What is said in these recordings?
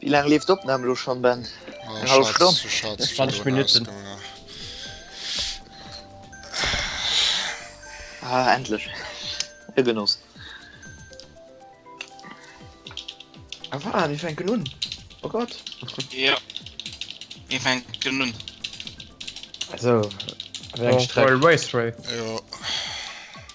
Wie lang lebt Opnahme lo schon Ben? Eng halb Stonn? 20 Minuten. Ah, endlich. E Genoss. Ah, wa, mir fänken un. Oh Gott. Ja. Mir fänken un. So, wéi eng Streck? Race Race. Jo.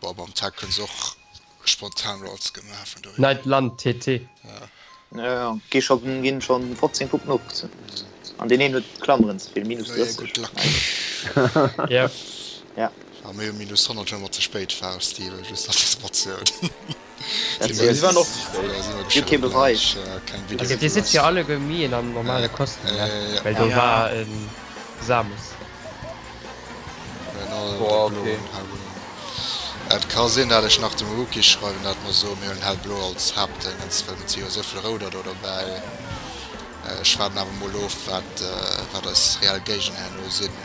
Boah, mam Tag kënns de och spontan Rolls gemaach vun doheem. Neit Land TT. Ja ja, gi scho ginn scho 15 Puppen opgezunn an deen een huet Klammeren ze vill, minus 30. Gudd Luck. Yep. Ja. A mir hu minus 100 hu mer ze spéit fausst, Steven, just dass de se mat ze hunn. Dat Dir wär sinn. Gëtt kee Beweis. Also Dir sidd jo alleguer méi en an normale Kostüm, ne? Well do war e Samus. Boah, okay. Et ka sinn dat ech nach dem Rookie schreiwen dat mer soen mir huelen hellblo als Haaptdëngens well mir zi jo souvill rouder do dobäi. Ech waarden awer mol of wat wat eis reell Géigner herno sinn.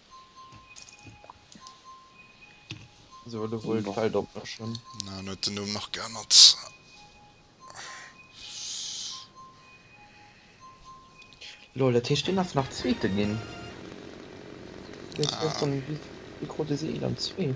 So, du wollt Boah. Feld opmëschen. Na, dann huet den Numm nach geännert. Lol, dat heescht, deen ass nach Zweete ginn. Deen ass Ah. gestern, wie, wie krut e se? Eent an zwee?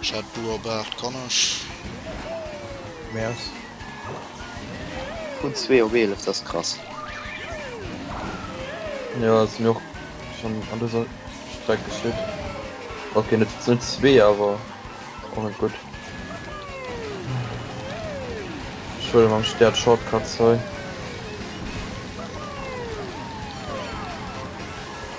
Ech hat beobacht kann ech. Merci. Vun zwee op eelef, dat ass krass. Jo ass mir och schon an dëser Streck geschitt. Ok net net zwee awer och net gutt. Ech huele mam Stär d'Shortcuts hei.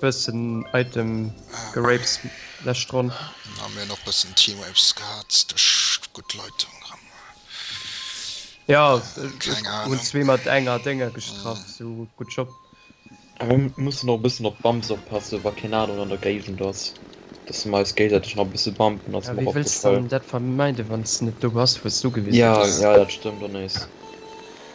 Bëssen Item gerapes lescht Ronn. Dann hu mir nach bëssen T-Waves gehat duerch gutt Leitung ran. Jo hun zwee mat enger denger gestrach sou gutt Job. Mir mussen och e bëssen op Bumps oppassen wa keen aneren an der Géigend ass dass mer eis géigseitig nach e bësse bumpen ass mer och opgefall. Wéi wëlls dann dat vermeiden wanns net do bass wous du gewisen bass? Jo dat stëmmt och nees.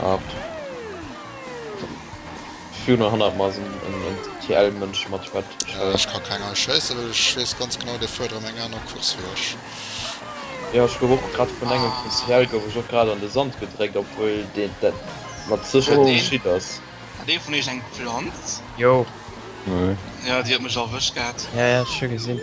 Ab View 900 mas en TL Mënsch mat Schwert schwéier. Ech ka keng erschéissen well ech wees ganz genau dee fuert erem eng aner Course wéi ech. Jo ech gouf och grad vun engem vun TL gouf ech och grad an de Sand gedréckt obwuel deen dat mat Sécherheet geschitt ass. Hat ee vun iech eng Planz? Jo. Jo déi huet mech erwëscht gehat. Jo jo ech hu gesinn.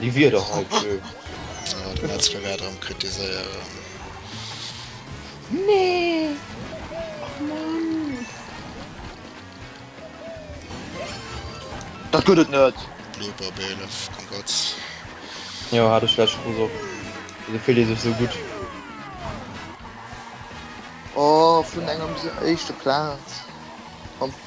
Déi Wierder hei vu. Voilà, de Metzler wäert erëm kritiséieren. Nee! Och Mann! Dat gëtt et net! Blooper Bélef, komm Gott! Jo, hat ech lech gesot. Wéso fillt ee sech esou gutt? Oh, vun engem se éischte Plaz an.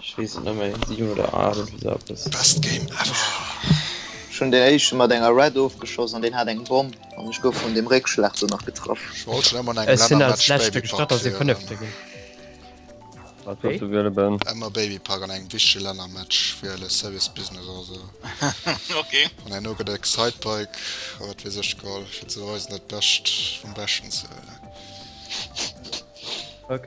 Ech wees et net méi, 7 oder 8 oder sou eppes. Best game ever! Ech hun den éischten mat enger Red ofgeschoss an deen hat eng Bomm an ech gouf vun dem Réckschlag do nach getraff. Ech wollt schon emmer an engem Länner Match Baby Park wielen. Wat wolls du wiele Ben? Emmer Baby Park an engem wichtege Länner Match wiele, Service Business oder sou. Ok. An herno get der Excitebike a wat wees ech geholl fir ze beweisen dat bescht vum beschten ze wielen. Ok.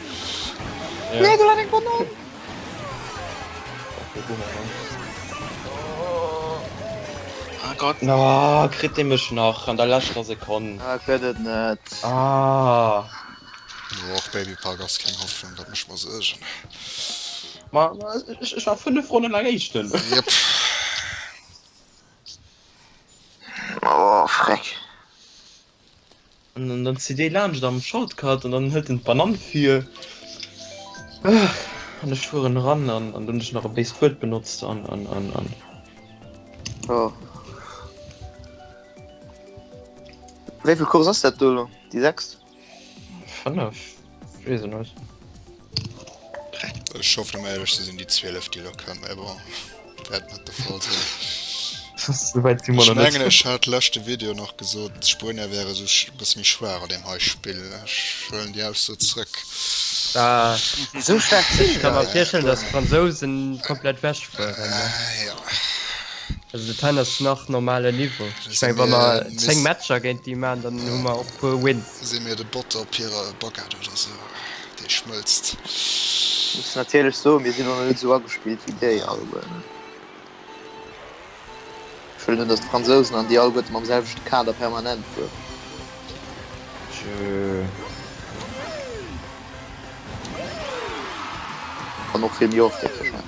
Nee, du hat eng Banane! Ah Gott. Na, kritt dee mech nach an der leschter Sekonn. Ah, ech gëtt et net. Ah. No, och Baby Park ass keng Hoffnung, dat mécht mer Suergen. Ma, ech war 5 Ronnen laang Éischten. Jep. Oh, Freck. An dann zitt ee laanscht am Shortcut an dann hëlt en d'Banann vir. An ech fueren eran an dann hunn ech nach e béist Wuert benotzt an. Jo. Wéi vill Course ass dat do elo? Déi sechst? Fënnef. Wees en net. Ech hoffen am ehrlech ze sinn déi 12 déi elo kënnen, mä bon, wäert net de Fall sinn. Souwäit si mer nach net. Ech mengen ech hat leschte Video nach gesot, d'Spuenier wäre sou e bësse méi schwaach an deem hei Spill. Ech huelen déi Ausso zrëck. Esou schlecht sinn se net. Ech ka mer virstellen, datt d'Fransousen komplett ewech fueren. Also dat hei ass nach normale Niveau. Ech meng wa mer 10 Matcher géint déi maachen, dann hu mer och e puer Wins. Sinn mir de Botter op hirer Baguette oder sou, déi schmëlzt. Muss natierlech soen, mir sinn och nach net esou agespillt wéi déi alleguerten. Ech wëll net, dass d'Fransousen an déi alleguerte mam selwechte Kader permanent fueren. An och vill méi oft, héchstwahrscheinlech.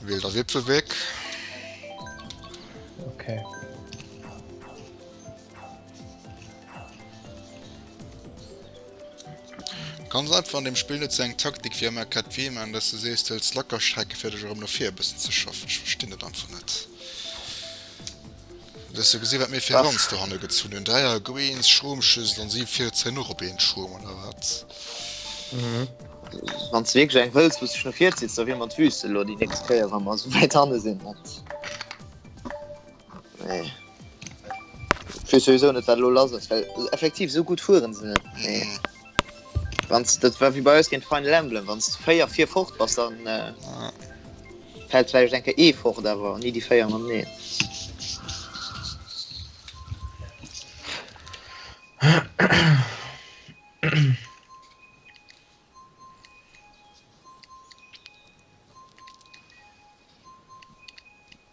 Wiel der Wipfel weg. Okay. Ganz einfach an dem Spiel net eng Taktik fir mer Kat wie man dass du sees duels Lackerstrecke fir dech rum no fir bessen ze schaffen. Ich verstinn net einfach net. Hues du gesi wat mir fir Ranz dohanne gezunn hunn? Dräier Greens, Schromschüssel an si fiert zeien och op een Schrom oder wat? Wann ze wierklech eng hëlls wouss no vir zitz, da wier mat wüste lo déi nächst Kéier wa mer sou wäit hanne sinn net. Nee wéis souwisou net wat lo lass ass, well effektiv sou gutt fuere se net. Wanns dat war wéi bei eis géint Final Emblem, wanns de 4 vir fort bass, dann fält vläicht eng Kéier ee fort, awer ni déi 4 mateneen.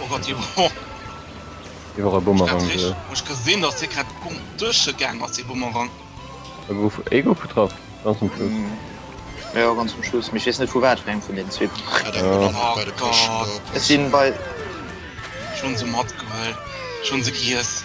Oh Gott, jo. Hie war e Bumerang. Ech gesinn, datt hie grad um Dësche gaang ass, dee Bumerang. E gouf, e gouf getraff, ganz um Schluss. Jo, jo, ganz um Schluss. Mee ech weess net, vu wat fir engem vun deenen zwee. Hat eng Bumerang nach bei de Poschen do. Ech sinn bei. Ech hunn se matgehuel. Ech hunn se giess.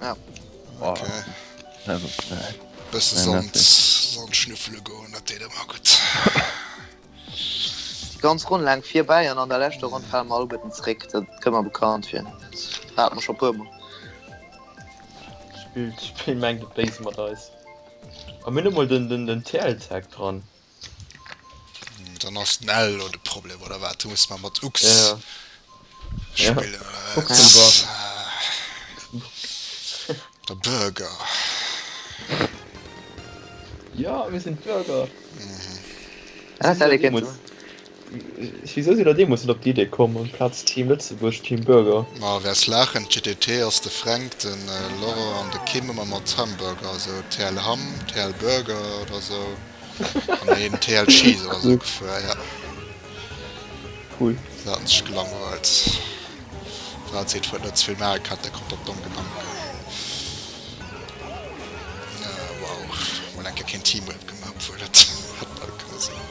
Ja. Ok. Bësse Sand schnüffele goen, dat deet ëmmer gutt. Déi ganz Ronn laang virbäi an an der leschter Ronn fale mer alleguerten zréck. Dat kënnt mer bekannt vir. Dat hate mer scho e puer mol. D'Spill mengt et béis mat eis. A mir hunn emol den TLZ dran. Dann ass den L lo de Problem oder wat? Du muss mer mat Ux ja, ja. spillen oder wat? Der Burger. Ja, mir sinn d'Burger. Mhm. Ah, Wisou sidd der deemols net op déi Idee komm, amplaz Team Lëtzebuerg, Team Burger? Ma wers laachen, GTT ass de Fränk, de Laurent an de Kim ëmmer mat Hamburger, esou TL Ham, TL Burger oder esou, an een TL Cheese oder esou gefuer, ja. Cool. Se haten sech gelangweilt. War d'Zit wou et net zevill Maarek hat, da kommt op domm Gedanken. Wow, mol eng Kéier keen Teamrap gemaach, obwuel dat hätt bal kënne sinn.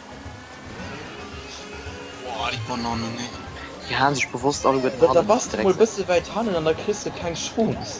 Da bass de mol bësse wäit hannen an da kriss de keng Chance.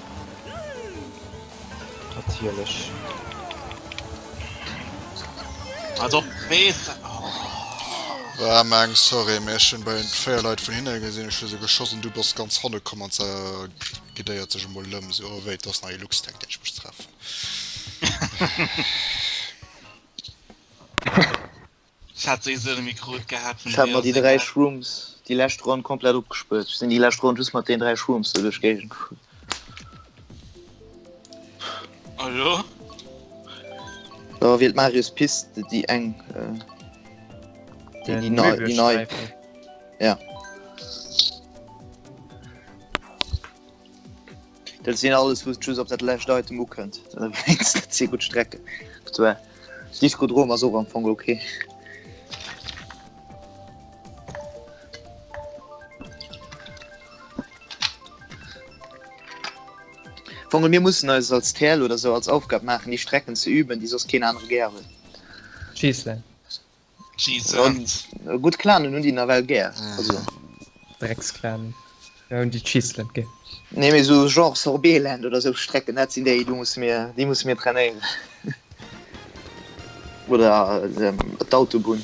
Natierlech. Als ob wees. Oh. Ah, Mang, sorry, mir schon bei den vier Leute von hinten gesehen, ich sie geschossen, du bist ganz hinten gekommen und sie gedeiert sich mal lüm, so, oh, wait, das ist neue Lux, denkt ich muss treffen. Hat déi esou de Mikro et gehat vun Ech hat mer déi dräi Deosegal? Shrooms déi lescht Ronn komplett opgespuert. Ech sinn déi lescht Ronn just mat deenen dräi Shrooms do duerch d'Géigend gefuer. A lo? Lo wielt Marius Pist d', déi eng, äh, déi, déi nei, déi nei. Möbiusstreifen. Ja. Dat sinn alles wou just op dat lächt Item ukënnt ze gutt Strecke Diskodrom ass och am Fong okay. Fong mir mussssen eis als Tell oder sou als Aufgab maachen déi Strecken ze üben, déi sos keen anere gär hunn. Cheeselen. Gutt Clanen hunn déi nawell gär. Drecksclan, mir hunn déi Cheeseland gär. Nee mee sou Genre Sorbeeland oder sou Strecken, dat sinn déi, déi musse mir trainéieren. Oder d'Autobunn.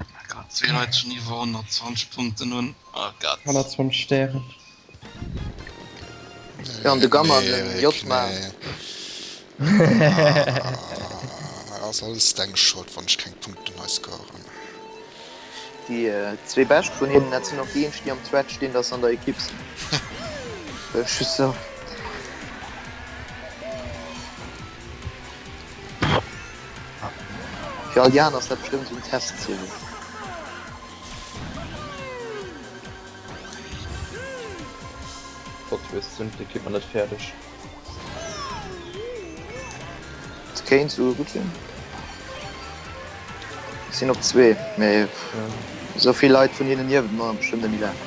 Oh Gott, zwee Leit schon iwwer 120 Punkten hunn. Oh Gott. 120 Stären. Ja, an de Gamma an den J. Ass alles deng Schold wann ech keng Punkten hei scoren. Déi zwee bescht vun hinnen, dat sinn och déi eenzeg déi am Thread stinn datt se an der Ekipp sinn. Just sou. Fir all déi aner ass dat bestëmmt esou en Testziel. Plot Twist, sinn d'Equipment net fäerdeg? Dat kéint souguer gutt sinn. Ech sinn op zwee, mee esou vill Leit vun hinnen niewent mer bestëmmt net méi laang.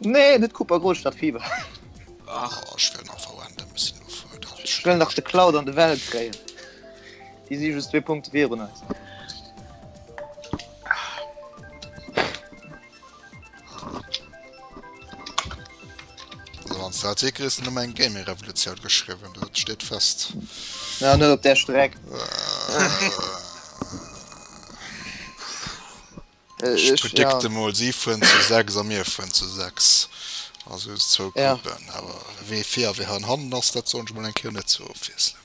Nee, net Cooper Gold statt Fieber. Ach, oh, ich will nach verwenden, dann müssen wir vor. Ich will nach die Cloud an die Welt kriegen. Die sind just zwei Punkte wie und eins. Also, Artikel ist nur mein Gaming Revolution geschrieben, das steht fest. Ja, nur auf der Strecke. Äh. Ech predikte ja. mol, si fueren zu 6 a mir fueren zu 6. Also zwou Ja. Gruppen. Awer wee vir a wee han hannen ass, dat soen ech mol eng Kéier net zur Ofwiesslung.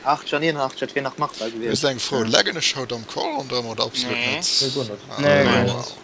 Archer, nien, Archer, et wier nach machbar Just gewiescht. eng Fro, Leggen ech haut am Call Ronde oder absolut Nee. net? Nee, guer net. Ah Nee, guer net. wow.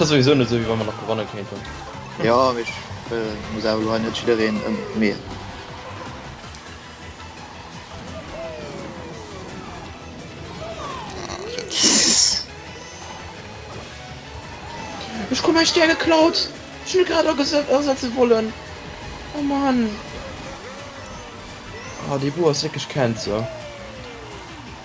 Et ass souwisou net esou wéi wa mer nach gewanne kéinten. Jo, mee ech muss awer elo hei net jiddereen ëm d'Mear. Ech krut mäi Stär geklaut, wéi ech mech grad asetze wollen. Oh Mann! Ah, déi Bur ass wierklech Cancer.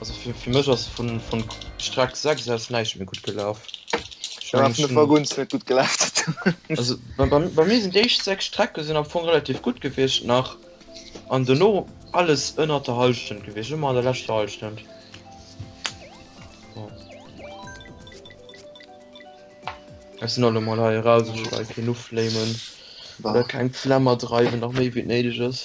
Also fir, fir mech ass vun, vun Streck 6 aus näischt méi gutt gelaf. Ech Da war mengen, vun de schon- Waguns net gutt gelaf. Also bei, bei, bei mir sinn déi éischt 6 Strecke sinn am Fong relativ gutt gewiescht nach. An dono alles ënnert der Hallschent gewiescht, ëmmer an der leschter Hallschent. Jo. Ech sinn alt emol hei eraus, ech wëll hei keen uflamen. Oder keng Flammer dreiwen, nach méi wéi et néideg ass.